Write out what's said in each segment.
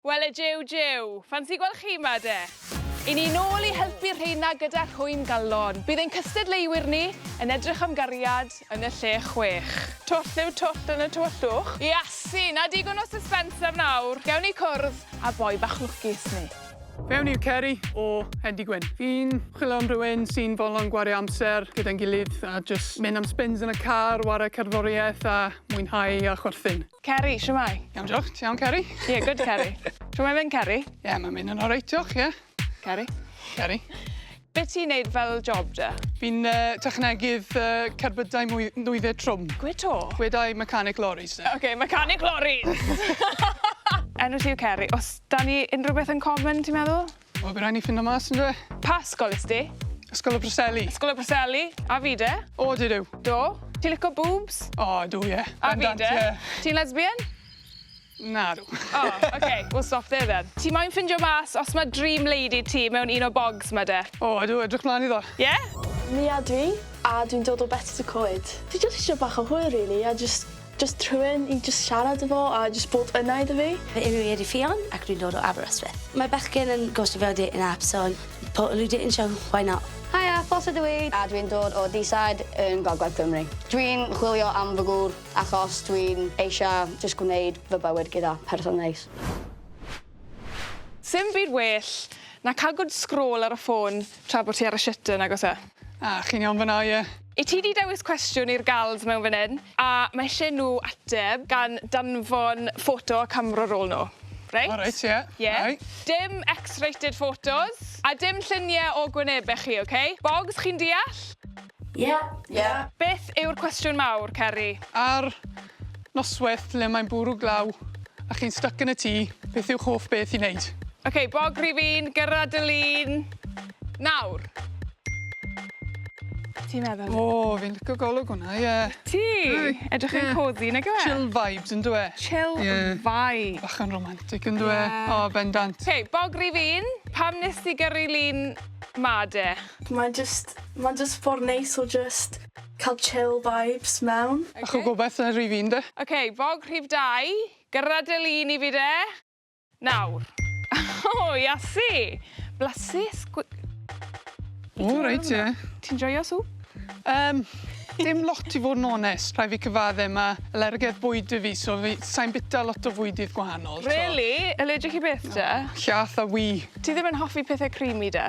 Wele jiw jiw! Ffansi gweld chi 'ma de! I ni nôl i helpu'r rheina gyda rhwym galon. Bydd ein cystadleuwyr ni yn edrych am gariad yn y lle chwech. Twll yw twll yn y tywyllwch. Iasi! Na digon o suspense am nawr. Gewn ni cwrdd â boi bach lwcus ni. Fe wn i'r Ceri o Hendy Gwyn. Fi'n chwilio am rywun sy'n fodlon gwario amser gyda'n gilydd a jyst mynd am spins yn y car, ware cerddoriaeth a mwynhau a chwerthin. Ceri, shwmae? Iawn diolch, ti iawn Ceri? Ie, good Ceri. Shwmae mynd Ceri? Ie, mae'n mynd yn oreit diolch, ie. Ceri? Ceri? Be ti'n neud fel job da? Fi'n uh, technegydd uh, cerbydau mwy, nwyddau trwm. Gwe to? Gwedau mechanic lorries. Oce, okay, mechanic lorries! Enw ti yw Ceri. Os da ni unrhyw beth yn common, ti'n meddwl? Wel by' rhai' ni ffindo mas on'd yw e? Pa ysgol is di? Ysgol y Preseli. Ysgol y Preseli? A fi de? O dw dw. Do? Ti'n lico boobs? O dw ie. A fi de? Bendant ie. Ti'n lesbian? Nadw. O ok we'll stop there then. Ti moyn ffindio mas os ma' dream lady ti mewn un o bogs ma de? O ydw edrych mlan iddo. Ie? Mia dwi, a dwi'n dod o Betws y Coed. Dwi jyst isio bach o hwyl rili a jyst Jyst rhywun i jyst siarad efo a jyst bod yna iddo fi. Fy enw i ydi Ffion ac dwi'n dod o Aberystwyth. Mae bechgyn yn gostio fel dating app so po nhw dating show why not? Haia, Ffoss ydw i a dwi'n dod o Deeside yn Gogledd Cymru. Dwi'n chwilio am fy gŵr achos dwi'n eisia jyst gwneud fy bywyd gyda person neis. Sim byd well na ca'l good scroll ar y ffôn tra bo ti ar y shut yn nag oes e? Ah, chi'n iawn fan'na, ie? I ti 'di dewis cwestiwn i'r gals mewn fan 'yn a ma' isie nhw ateb gan danfon ffoto a camera roll nhw. Reit? O reit ie. Ie. Reit. Dim X-rated photos a dim llunie o gwynebe chi ok? Bogs chi'n deall? Ie. Ie. Beth yw'r cwestiwn mawr Ceri? Ar Noswaith lle mae'n bwrw glaw a chi'n styc yn y tŷ, beth yw'ch hoff beth i wneud? Ok, bog rhifin, gyrra dy lun, nawr! Ti'n meddwl? O, fi'n licio golwg hwnna, ie. Ti? Edrych yn cosy, nag yw e? Chill vibes, yn dw e? Chill vibes. Bach yn romantic, yn dw e? O, bendant. Ok, bog rhifin, pam nes ti gyrru lun 'ma de? Mae'n jyst, mae'n jyst ffordd neis o jyst... Cael chill vibes mewn. Bach o gobaith ar rif un de. Ok, bog rhif dau. Gyrra dy lun i fi de. Nawr. O, Iasu! Blasus gw-. O, reit ie. Ti'n joio swp? Yym, dim lot i fod yn onest. Rhaid fi cyfadde, ma' alergedd bwyd 'da fi, so fi, sai'n bita lot o fwydydd gwahanol, so. Rili? Allergic i beth de? Llath a wŷ. Ti ddim yn hoffi pethe creamy de?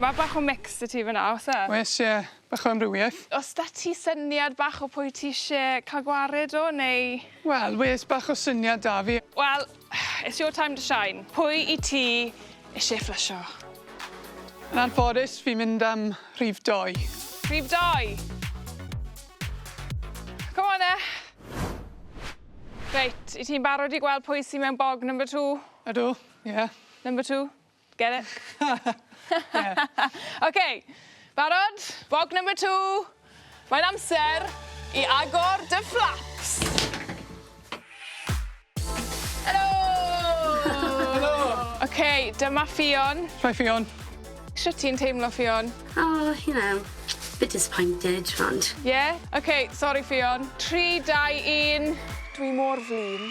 Ma' bach o mix 'da ti fynna o's e? Oes ie, bach o amrywieth. O's 'da ti syniad bach o pwy ti isie ca'l gwared o neu? Wel wes bach o syniad 'da fi. Wel it's your time to shine. Pwy i ti isie fflysho? Yn anffodus fi'n mynd am rhif dou. Rhif dou? Come on 'e. Reit, 'yt ti'n barod i gweld pwy sy mewn bog number two? Ydw, ie. Number two. Get it? Ie. Oce, barod? Bog number two. Mae'n amser i agor dy fflaps. Helo! Helo! Oce, dyma Ffion. Hi Ffion. Shwt ti'n teimlo Ffion? O, you know, bit disappointed, ond... Ie? Oce, sori Ffion. Tri, dau, un. Dwi mor flin.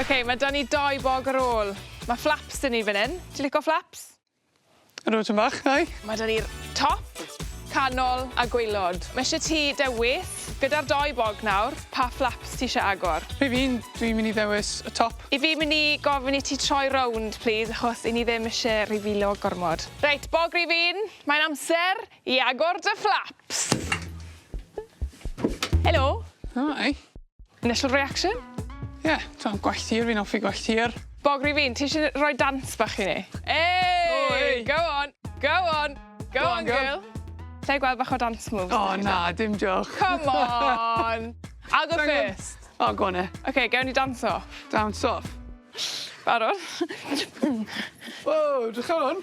OK, mae 'da ni dou bog ar ôl. Mae flaps 'da ni fan hyn. Ti'n lico flaps? Yr oedran bach, nai. Mae 'da ni'r top, canol a gwaelod. Mae eisiau ti dewis, gyda'r dou bog nawr, pa flaps ti eisiau agor. Fi fi'n, dwi'n mynd i ddewis y top. I fi mynd i gofyn i ti troi rownd, plîs, achos 'yn ni ddim eisiau rifilo gormod. Reit, bog rif un, mae'n amser I agor dy fflaps! Helo! Hi! Initial reaction? Ie, t'mo' gwell tir, fi'n offi gwell tir. Bog Rhifyn, ti isie n- roi dance bach i ni? Ey! O ey! Go on! Go on! Go Go on on girl! girl! Lle gweld bach o dance moves? O na, dim jôc. Come on! I'll go Sai'n gwbod. first. O, go on 'e. Oce, gewn ni dance off. Dance off. Barod? Ww, 'drych ar 'wn.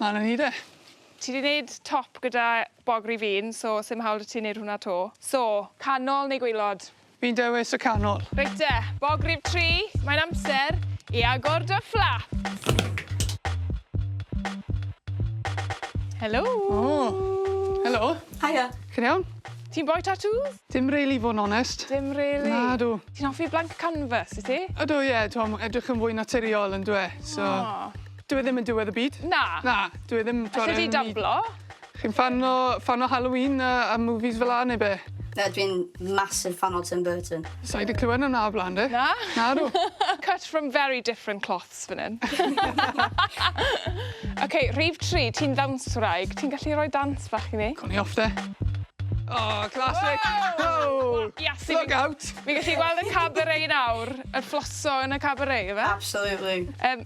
A 'na ni de. Ti 'di neud top gyda bog ry fin so sim hawl 'da ti neud hwnna 'to. So, canol neu gwaelod? Fi'n dewis y canol. Reit te, bog rhif tri, mae'n amser i agor dy fflap! Helo! O! Helo! Haia! Chi'n iawn? Ti'n boi tatŵs? Dim rili i fod yn onest. Dim rili? Nadw. Ti'n hoffi blank canvas, wyt ti? Ydw ie, t'mo' ma' edrych yn fwy naturiol on'd yw e? So... O! Dyw e ddim yn diwedd y byd. Na. Na, dyw e ddim t'od yn... Allet ti dablo? Chi'n ffan o ffan o Halloween a a movies fel 'a neu be'? Na dwi 'n massive ffan o Tim Burton. Sai 'di clywed wnna o bla'n 'de? Na? Nadw. Cut from very different cloths fan 'yn. Oce rhif tri ti'n ddawnswraig ti'n gallu roi dawns bach i ni? Co ni off 'de. O classic. Woah! Iasu fi... Look out! Fi'n gallu gweld y cabaret nawr. Y flosso yn y cabaret yfe? Absolutely. Yym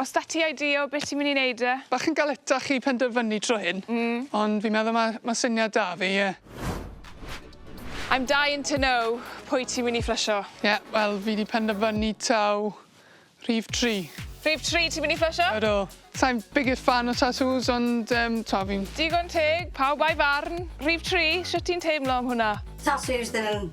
Os da ti idea o be ti myn i neud de? Bach yn galetach i penderfynu tro hyn. Mm. Ond fi'n meddwl ma' ma' syniad da fi ie. I'm dying to know pwy ti myn i fflysho. Ie wel fi di penderfynu taw rhif tri. Rhif tri ti myn i fflysho? Ydw. Sai'n biggest fan o tatŵs ond yym t'o' fi'n... Digon teg, pawb a'i farn. Rhif tri, shwt ti'n teimlo am hwnna? Tatŵs ddim yn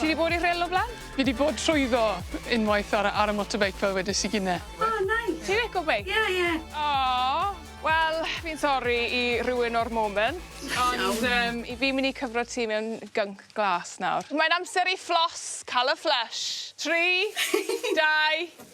Ti wedi bod i rhyl o blaen? Fi wedi bod trwyddo unwaith ar, ar y motorbike fel wedys i gynne. O, oh, nice. Ti'n lico beic? Ie, ie. O, wel, fi'n sori i rywun o'r moment, ond um, i fi mynd i cyfro ti mewn gync glas nawr. Mae'n amser i fflos, cael y flush. Tri, dau,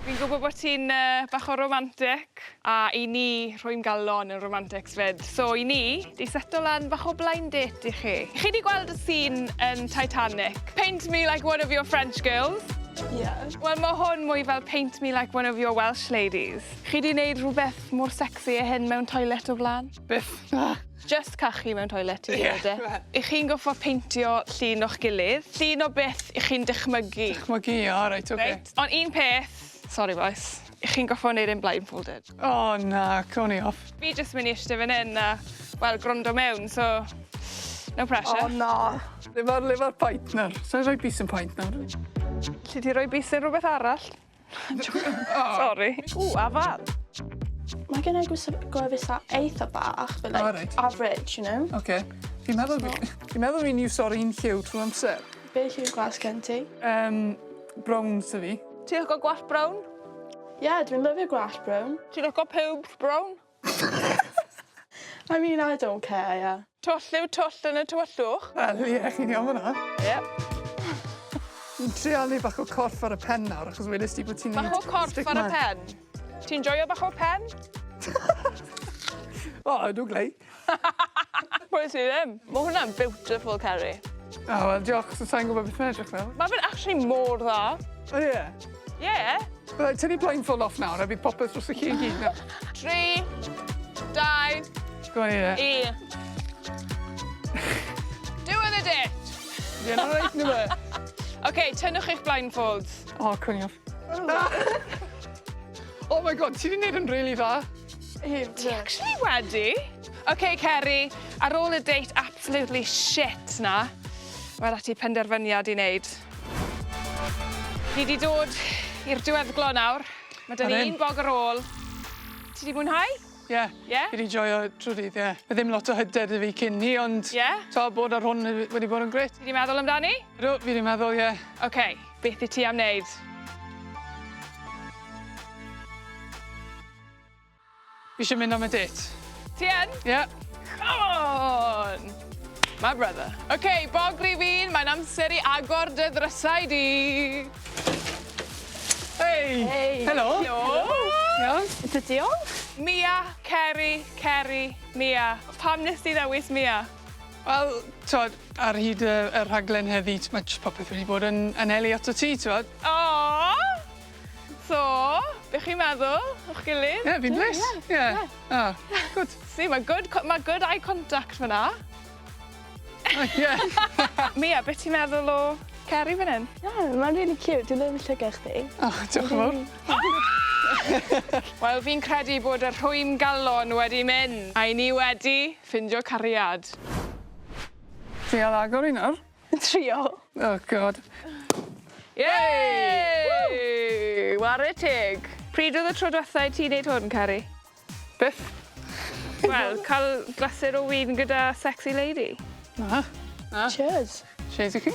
Fi'n gwybod bod ti'n yy bach o romantic a i ni rwy'n galon yn romantics 'fyd so i ni 'di seto lan bach o blind date i chi. Chi 'di gweld y sîn yn Titanic? Paint me like one of your French girls. Ie. Wel ma' hwn mwy fel paint me like one of your Welsh ladies. Chi 'di neud rhwbeth mor secsi â hyn mewn toilet o'r bla'n? Byth. Na. Jyst cachu mewn toilet yw e de? Y'ch chi'n gorffod peintio llun o'ch gilydd. Llun o beth y'ch chi'n dychmygu. Dychmygu, o reit oce. Reit, ond un peth, sori bois, y'ch chi'n gorffod neud e'n blindfolded. O na, co ni off. Fi jyst myn' i ishte fan 'yn a, wel, gwrando mewn, so no pressure. O na! Le ma'r le ma'r paent nawr? Sai roi bys yn paent nawr. Alli di roi bys yn rwbeth arall? Sori. Ww afal. Mae gennai gwisg gwefus a eitha bach but like O reit. average you know? Oce. Fi'n meddwl fi fi'n meddwl fi'n iwso'r un lliw trw amser. Be' lliw gwas gen ti? Yym brown sy fi. Ti lico gwallt brown? Ie dwi'n lyfio gwallt brown. Ti lico pubes brown? I mean I don't care ie. Twll yw twll yn y tywyllwch. Wel ie chi'n iawn fan 'na. Ie. Fi'n trial neu' bach o corff ar y pen nawr achos wedest ti bo' ti'n neud... Bach o corff ar y pen? Ti'n joio bach o pen? O ydw glei. Pwy sy ddim? Ma' hwnna'n beautiful Ceri. O wel diolch so sai'n gwbo beth ma' edrych fel. Ma' fe'n actually mor dda. O ie? Yeah. Right, tynnu blindfold off nawr a bydd popeth drosoch chi i gyd nawr. Tri, dau, Go on, Anita. un. Doing it it! Ie, na reit nhw e. OK, tynnwch eich blindfolds. O, cwn i off. Oh my god, ti di wneud yn really dda. Ti actually wedi. OK, Ceri, ar ôl y date absolutely shit na, mae 'da ti penderfyniad i wneud. Ni wedi dod i'r diweddglo nawr. Mae dyn ni un bog ar ôl. Ti wedi mwynhau? Ie. Yeah. Ie? Yeah? Fi wedi joio trwy dydd, ie. Yeah. Mae ddim lot o hyder da fi cyn ni, ond... Ie? Yeah? To, bod ar hwn wedi bod yn gret. Fi wedi meddwl amdani? Ydw, fi wedi meddwl, ie. Yeah. Oce, okay. beth i ti am wneud? Fi isio mynd am y dêt. Ti yn? Ie. Come on! My brother. OK, bog rhifin, mae'n amser i agor dy ddrysau di. Hei! Hei! Helo! Helo! Iawn? Ydw, diolch. Mia, Ceri, Ceri, Mia. Pam nes di ddewis Mia? Wel, t'wod, ar hyd y y rhaglen heddi, t- ma' jyst popeth wedi bod yn anelu atat ti, t'wod. Aww! So, be chi'n meddwl o'ch gilydd? Ie, fi'n blês. Ie. Ie. O, gwd. Si, mae good co- ma' good eye contact fyna. O, ie. Mia, be ti'n meddwl o Ceri fan 'yn? Ie, mae'n rili ciwt. Dwi lyfio llygad chdi. O, diolch yn fowr. Wel, fi'n credu bod y rhwym galon wedi mynd, a 'yn ni wedi ffindio cariad. Dwi ar agor i nawr. Trio. Oh God. Yay! Ww! Ware teg. Pryd oedd y tro dwetha i ti neud hwn Cari? Byth. Wel, ca'l glasur o win gyda sexy lady. Na. Na. Cheers. Cheers i chi.